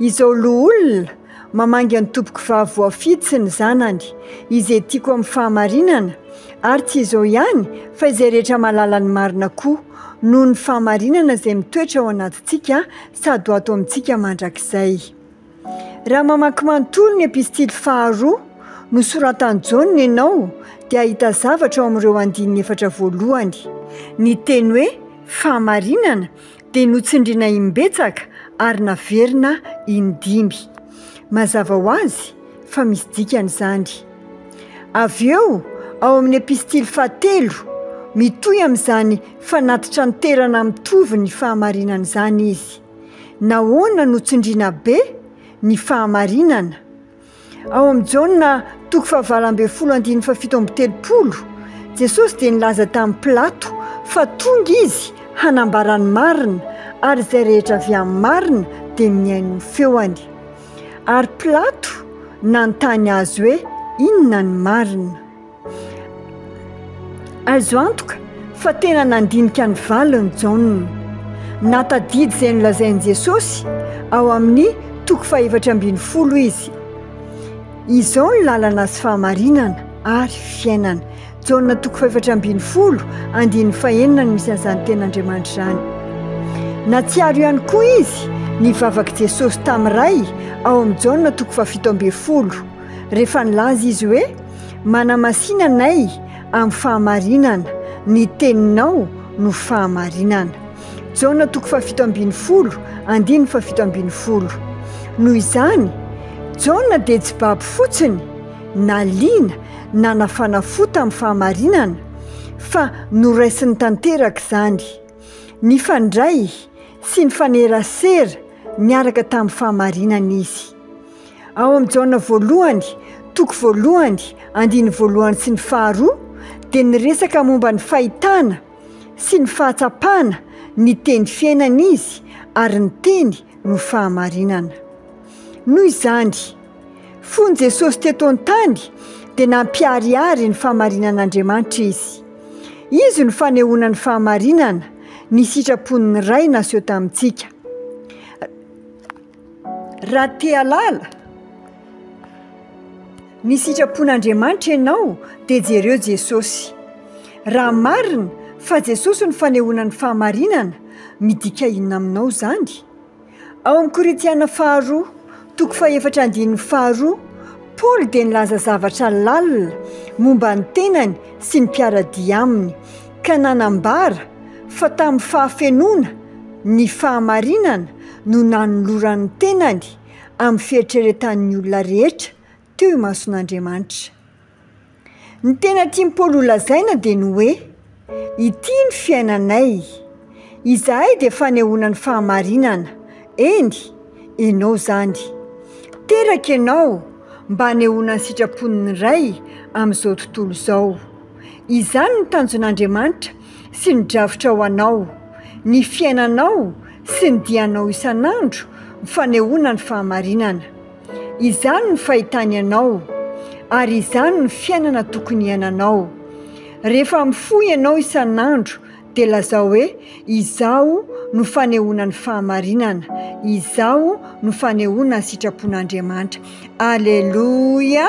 Izao loholona, Mamangy an'i tompoko vavy voafidy sy ny zanany, izay tiako amin'ny fahamarinana, ary tsy izao ihany fa izay rehetra mahalala ny marina koa, noho ny fahamarinana izay mitoetra ao anatintsika sady ho ato amintsika mandrakizay. Raha mamaky manontolo ny Epistily faharoa nosoratan'i Jaona ianao, dia hahita zavatra ao amin'ireo andininy efatra voalohany. Ny teny hoe fahamarinana dia notsindriana im-betsaka ary naverina in-dimy. Mazava ho azy fa misy dikany izany. Avy eo, ao amin'ny epistily fahatelo, mitohy amin'izany fanatitranterana mitovy ny fahamarinana izany izy. Nahoana notsindriana be ny fahamarinana? Ao amin'i Jaona toko fahavalo ambin'ny folo andininy fahafito amby telopolo, Jesosy dia nilaza tamin'i Pilato fa tonga Izy hanambara ny marina, ary izay rehetra avy amin'ny marina dia mihaino ny feony. Ary Pilato nanontany Azy hoe, Inona ny marina? Azo antoka fa tena nandinika ny valin'i Jaona. Nahatadidy izay nolazain'i Jesosy ao amin'ny toko fahefatra ambin'ny folo izy, Izao ny lalana sy fahamarinana ary fiainana. Jaona toko fahefatra ambin'ny folo andininy fahenina no misy an'izany tenin'Andriamanitra izany. Nahatsiaro ihany koa izy ny vavak'i Jesosy tamin'ny Ray ao amin'ny Jaona toko fahafito ambin'ny folo, rehefa nilaza izy hoe, Manamasina anay amin'ny fahamarinana, ny teninao no fahamarinana. Jaona toko fahafito ambin'ny folo, andininy fahafito ambin'ny folo. Noho izany, Jaona dia tsy babo fotsiny, naliana, nanafana fo tamin'ny fahamarinana, fa noraisiny tanteraka izany. Nifandray sy nifanerasera niaraka tamin'ny fahamarinana izy. Ao amin'ny Jaona voalohany, toko voalohany, andiny voalohany sy ny faharoa, dia niresaka momba ny fahitana sy ny fahatsapana ny Teny fiainana izy, ary ny Teny no fahamarinana. Noho izany, fony Jesosy teto an-tany, dia nampiharihary ny fahamarinan'Andriamanitra izy. Izy no fanehoana ny fahamarinana, ny sitrapon'ny Ray naseho tamintsika. Raha te-halala ny sitrapon'Andriamanitra ianao dia jereo Jesosy. Raha marina fa Jesosy no fanehoana ny fahamarinana, midika inona aminao izany? Ao amin'ny Korintiana faharoa, toko fahefatra andininy faharoa, Paoly dia nilaza zavatra lalina momba ny tenany sy ny mpiara-dia aminy. ka nanambara fa tamin'ny fahafenoana ny fahamarinana no nanolorany ny tenany amin'ny fieritreretan'ny olona rehetra teo imason'Andriamanitra. Ny tena tian'i Paoly holazaina dia ny hoe, Ity ny fiainanay. Izahay dia fanehoana ny fahamarinana, eny, ianao izany. Teraka ianao mba hanehoana ny sitrapon'ny Ray amin'izao tontolo izao. Izany ny tanjon'Andriamanitra sy ny drafitra ho anao. Ny fiainanao sy ny dianao isan'andro fanehoana ny fahamarinana. Izany ny fahitany anao, ary izany ny fiainana tokony hiainanao. Rehefa mifoha ianao isan'andro dia lazao hoe, Izaho no fanehoana ny fahamarinana. Izaho no fanehoana ny sitrapon'Andriamanitra. Aleloia!